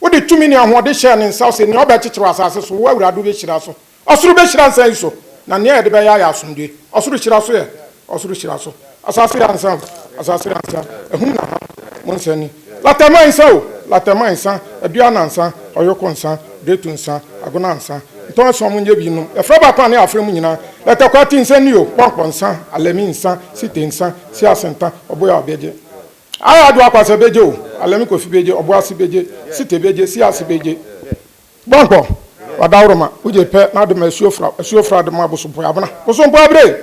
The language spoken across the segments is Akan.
Wode tumi ne ahoɔden hyɛɛ ne nsa, ɔse, Nea ɔbɛkyekyere wɔ asase so, wo Awurade wobɛhyira so. Ɔsoro bɛhyira nsa yi so, na nea yɛde bɛyɛ ayɛ asomdwoe. Ɔsoro hyira so yɛ ɔsoro hyira so. Asase yɛ ansa o, asase yɛ ansa, ahum na ha mo nsa ni. Latɛma nsa o, latɛma nsa, aduan ansa, ɔyoko nsa, gretu nsa, agona nsa, ntɔn ason mo nyɛ bi nnom, yɛfrɛ baako a ne yɛ afrɛ mo nyinaa. Lɛtɛkwati nsa ni o, pɔnkɔ nsa, alɛmi nsa, site nsa, siase nta, ɔboya ɔbɛgye. Aa do akwasa begye o, Alemi Kofi begye, Ɔboase begye, Site begye, Siase begye. Bɔnkɔ, Ɔdawroma, wogye pɛ na ade ma asuo fra, asuo fra ade ma Bosompɔe abena, Bosompɔe abere,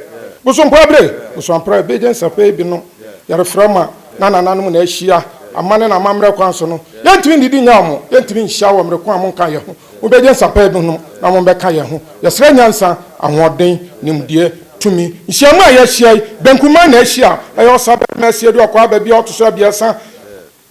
Bosompɔe abere, Bosoampra begye nsapɛ ebi no yɛrefrɛ ma na nananom na ahyia, amanne na amammerɛ kwan so no, yɛntumi nnidi nyɛ ɔmo, yɛntumi nhyia wɔ mmere ko a monka yɛho. Wobɛgye nsa pɛɛ no na wɔbɛka yɛn ho. Yɛsrɛ nyansa, ahoɔden, nimdeɛ, tumi. Nhyiam a yɛahyia yi, Benkumah na ahyia a ɛyɛ Ɔsabɛtema Asia du Ɔkwaa Baabi a ɔto so abiɛsa.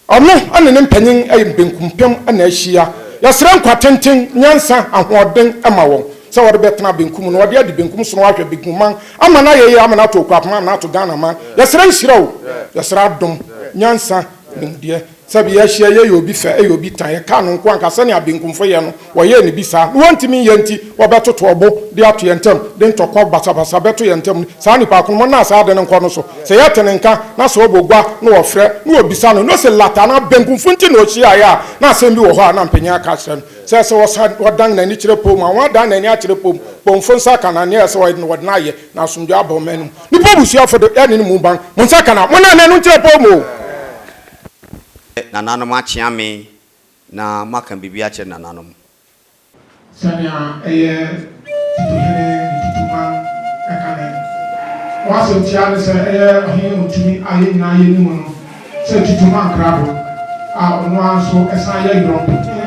Ɔno ne ne mpanyin yɛ Benkumpem na ahyia. Yɛsrɛ nkwa tenten, nyansa, ahoɔden ma wɔn sɛ wɔde bɛtena benkum na wɔde adi benkum so na wɔahwɛ Benkuman ama no ayɛ yie ama no ato Okuapem ama no ato Ghanaman. Yɛsrɛ nhyira o, yɛsrɛ adom, nyansa, nimdeɛ. Sɛ bi yɛhyia yɛyɛ obi fɛ yɛ obi tan yɛka no nko anka sɛnea benkumfo yɛ no wɔyɛɛ no bi saa na wɔntumi nyɛ nti wɔbɛtoto ɔbo de ato yɛn ntam de ntɔkwaw basabasa bɛto yɛn ntam no saa nnipa ko no mɔ na saa ade no nkɔ no so sɛ yɛte ne nka na sɛ ɔbɔ gua na wɔfrɛ na wɔbisa no na ɔse lata anaa benkumfo nti na ɔhyiaeɛ a na asɛm bi wɔ hɔ a na mpanyin aka akyerɛ no sɛ sɛ ɔsan ɔdan n'ani kyerɛ pɔw mu a wɔadan n'ani akyerɛ pɔw mu pɔwmfo nsa aka na nea ɛsɛ wɔyɛ no wɔde no ayɛ na asomdwoe aba ɔman no mu nnipa abusuafo de ɛne no mu ban mo nsa aka na monnane no nkyerɛ pɔw mu o. Sɛ nananom akyea me na moaka biribi akyerɛ nananom. Sɛnea ɛyɛ Titohene Ntutuman ka ne ho asɛmtiaa ne sɛ ɛyɛ ɔhene a otumi ayɛ nyinaa yɛ no mu no sɛ Tutuman Krado a ɔno ara nso san yɛ Yɔntohene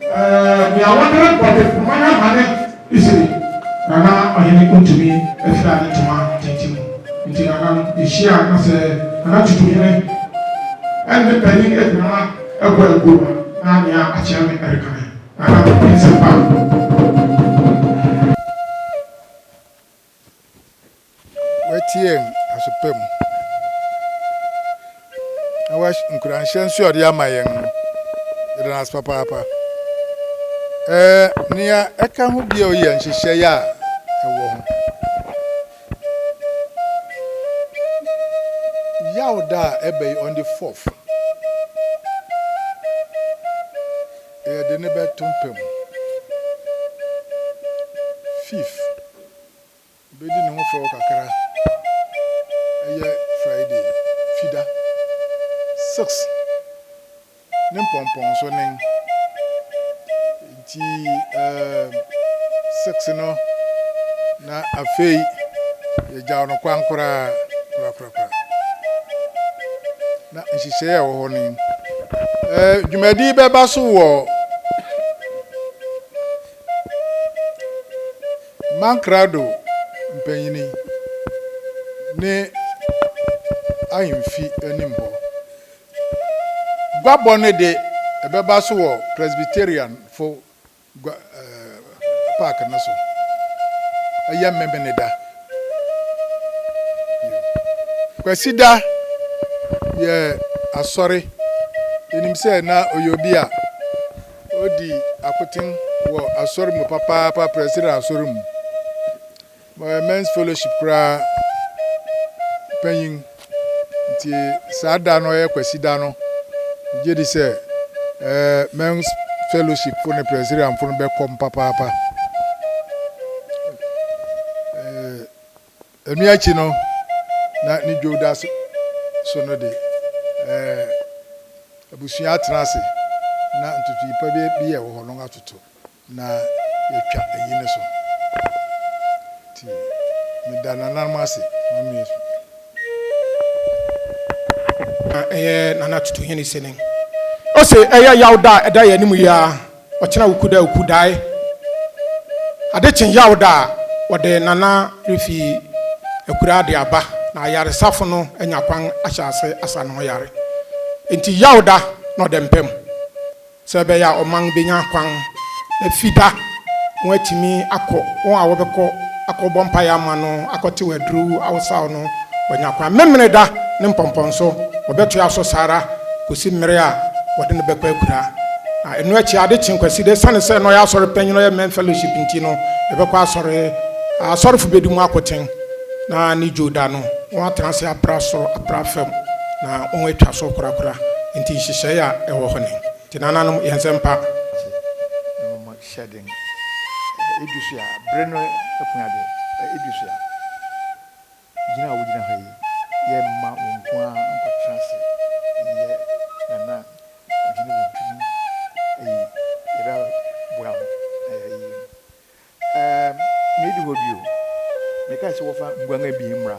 Ɛɛ, nea wɔde rebɔ dapɔnna no ama ne sere, na na ɔhene ntumi mfira ne ntoma tenten mu. Enti nana no hyiae, na sɛ nana tutuhene ne panyin akumaa bɔ aguo a, na nea akyea me reka ne nana Pɛpɛnsɛmpa. Wɔateɛm aso pa mu, na wɔahyɛ nkuranhyɛ nso a ɔde ama yɛn no, yɛda no ase papaapa. Ɛɛ nea ɛka ho bio yɛ nhyehyɛe a ɛwɔ ho. Yawda a ɛbɛ yi on the fourth, yɛde ne bɛto mpa mu. Fifth. Obedi ne ho fɛw kakra. Ɛyɛ Friday, Fida. Six, ne mpɔmpɔnso nen. Enti, ɛɛm, six no, na afei yɛgyaw no kwan koraa, korakorakora. Na nhyehyɛe a ɛwɔ hɔ nen. Ɛɛ, dwumadi bɛba so wɔ. Mankrado mpanyin ne ahemfi anim hɔ. Guabɔ no de, ɛbɛba so wɔ Presbyterianfo gua ɛɛ park no so. Ɛyɛ Memeneda. Kwasida yɛ asɔre. Yɛnim sɛ na ɔyɛ obi a. Odi akoten wɔ asɔr mu papaapa, Presbyterian asɔr mu. Ɔyɛ Men's Fellowship koraa panyin. Nti saa da no ɔyɛ Kwasida no, megye di sɛ ɛɛ Men's Fellowship fo ne Presbyterian fo no bɛkɔm papaapa. Ɛno akyi no, na ne dwo da so no de, abusua atena ase na ntotoe pa bi a ɛwɔ hɔ no atoto na yɛatwa ayi no so. Nti meda nananom ase ma me. Na ɛyɛ Nana Tutuhene Seneng. Ose, Ɛyɛ yaw da a ɛda yɛn anim yi ara. Ɔkyena oku da oku dae Ade kye yaw da a wɔde Nana refi akuraa de aba Na ayaresafo no anya kwan ahyɛ ase asa ne ho yare Enti yaw da na ɔda mpa mu Sɛ ɛbɛyɛ a ɔman benya kwan Na Fida wɔatumi akɔ Wɔn a wɔbɛkɔ akɔbɔ mpaeɛ ama no, akɔtew aduru awosaw no, wanya kwan. Memeneda ne mpɔmpɔnso, wɔbɛtoa so saa ara kɔsi mmere a wɔde no bɛkɔ akura. Na ɛno akyi, ade kye Kwasida, ɛsiane sɛ na ɔyɛ asɔre panyin, ɔyɛ Men Fellowship nti no, yɛbɛkɔ asɔre, asɔrefo bɛdi mu akoten, na ne dwo da no, wɔatena ase apra soro, apra fam, na wɔatwa so korakora. Enti nhyehyɛe a ɛwɔ hɔ ni. Enti nananom, yɛn nsɛmpa. hyɛ den. Edu so a, bere no apue ade. Edu so a, gyina a wogyina hɔ yi, yɛmma wo nko ara nkɔtena ase nyɛ Nana Ɔhene Wontumi Ayi. Yɛbɛboa wo na yɛayi no. Ɛɛ, medi hɔ bio. Mekae sɛ wɔfa nguan abien mmra.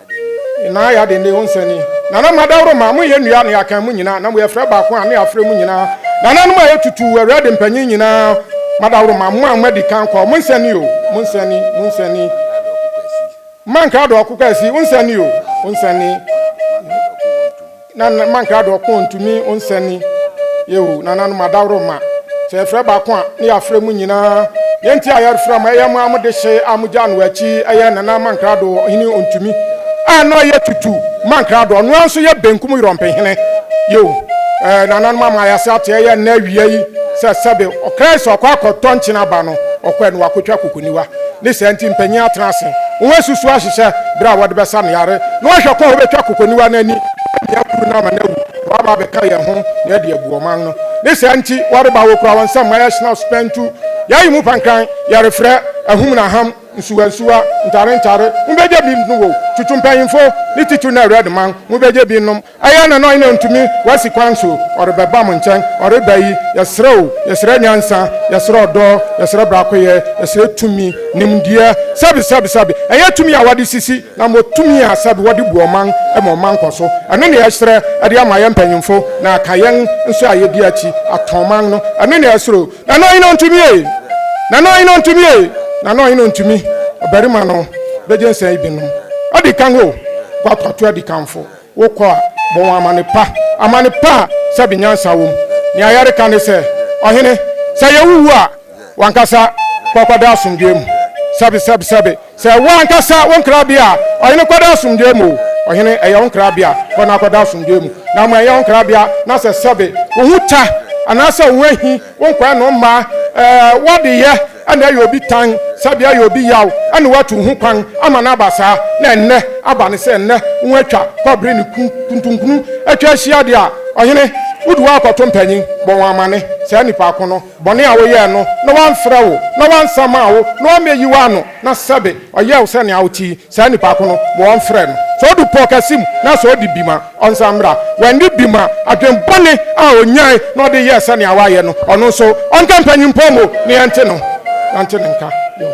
Naa yɛ aden dee wo nsa ni. Nana mma dawroma mo yɛ nua ne akan mo nyinaa na mo yɛ frɛ baako a ne afrɛ mo nyinaa nananom a yɛ tutuu awura de mpanyin nyinaa ma dawroma mo a mo adi kan kɔ mo nsa ni o mo nsa ni mo nsa ni mma nkrado ɔko kwasi wo nsa ni o wo nsa ni. Na na ma nkrado ɔko ntumi nsɛne yɛ o, nananom adaworo ma. Sɛ yɛfrɛ baako a, ne yɛafrɛ mo nyinaa. Nea nti a yɛrefrɛ mo, ɛyɛ mo ara mo dehye a mogyaa no wɔ akyi, ɛyɛ nana ma nkrado ɔhene ɔntumi a na ɔyɛ tutu ma nkrado, ɔno ara nso yɛ benkum yorɔmpe hene yɛ o. Ɛɛ, nananom ama ayɛ ase ate, ɛyɛ nnɛ awia yi sɛ sɛbe ɔkra yi sɛ ɔkɔ akɔtɔ nkyen aba no, ɔkɔɛ no wakɔtwa kɔkɔniwa. Ne saa nti, mpanyin atena ase, wɔasusuw ahyehyɛ bere a wɔde bɛsa no yare, na wɔahwɛ kwan a wobetwa kokoniwa no ani ne nea akuru no ama no awu, na wɔaba abɛka yɛn ho na yɛde abu ɔman no. Ne saa nti, wɔreba, wokura wɔn nsam ma yɛhyena spɛntu, yɛayi mu pankran, yɛrefrɛ, ahum na ham, nsuwa nsuwa, ntare ntare, mubegye bi nnom o, tutu mpanyimfo, ne titiriw na awurade man, mubegye bi nnom. Ɛyɛ na na ɔhene ontumi wasi kwan so ɔrebɛba mo nkyɛn ɔreba yi yɛsrɛ wo yɛsrɛ nyansa yɛsrɛ ɔdɔ yɛsrɛ brakoyɛ yɛsrɛ tumi nimdeɛ sɛbi sɛbi sɛbi ɛyɛ tumi a wɔde sisi na mo tumi a sɛbi wɔde bu ɔman ma ɔman kɔ so ɛno na yɛsrɛ ɛde ama yɛn mpanyinfo na aka yɛn nso a yɛdi akyi atɔn man no ɛno na yɛsrɛ o na na ɔhene ontumi ee na na ɔhene ontumi ee na na ɔhene ontumi ɔbarima no bɛgye nsɛn ibinom adi kan o guato ato adi kanfo. Wokɔ a, bɔ wɔn amanne pa, amanne pa a sɛbe nyansa wom. Nea yɛreka ne sɛ, Ɔhene, sɛ yɛrewu a, w'ankasa kɔkɔda asomdwoe mu. Sɛbe, sɛbe, sɛbe, sɛ ɛwɔ ankasa wo nkrabea a, ɔhene, kɔda asomdwoe mu o. Ɔhene, ɛyɛ wo nkrabea, kɔ na kɔda asomdwoe mu. Na mmom ɛnyɛ wo nkrabea, na sɛ sɛbe, wo ho ta, anaasɛ wo ahi, Wo nkoa nom mma ɛɛ w'adeyɛ na ɛyɛ obi tan, sɛbea ɛyɛ obi yaw na watu ho kwan ama no aba saa, na ɛnnɛ aba no sɛ nnɛ ho atwa kɔbere ne ku kuntunkunu atwa ahyia deɛ a, ɔhene, wode wo akɔto mpanyin, bɔ wɔn amane, saa nnipa ko no, bɔne a woyɛɛ no, na wamfrɛ wo, na wansa maa wo, na wammɛyi wo ano, na sɛbe ɔyɛɛ wo sɛnea wote yi. Saa nipa ko no ma wɔmfrɛ no. Sɛ odu pɔw kɛse mu na sɛ odi bem a, ɔnsan mmra. Wanni bem a, adwene bɔne a onyae na ɔde yɛɛ sɛnea wayɛ no, ɔno nso, ɔnka mpanyimfo mu na yɛnte no, yɛnte ne nka. Yoh.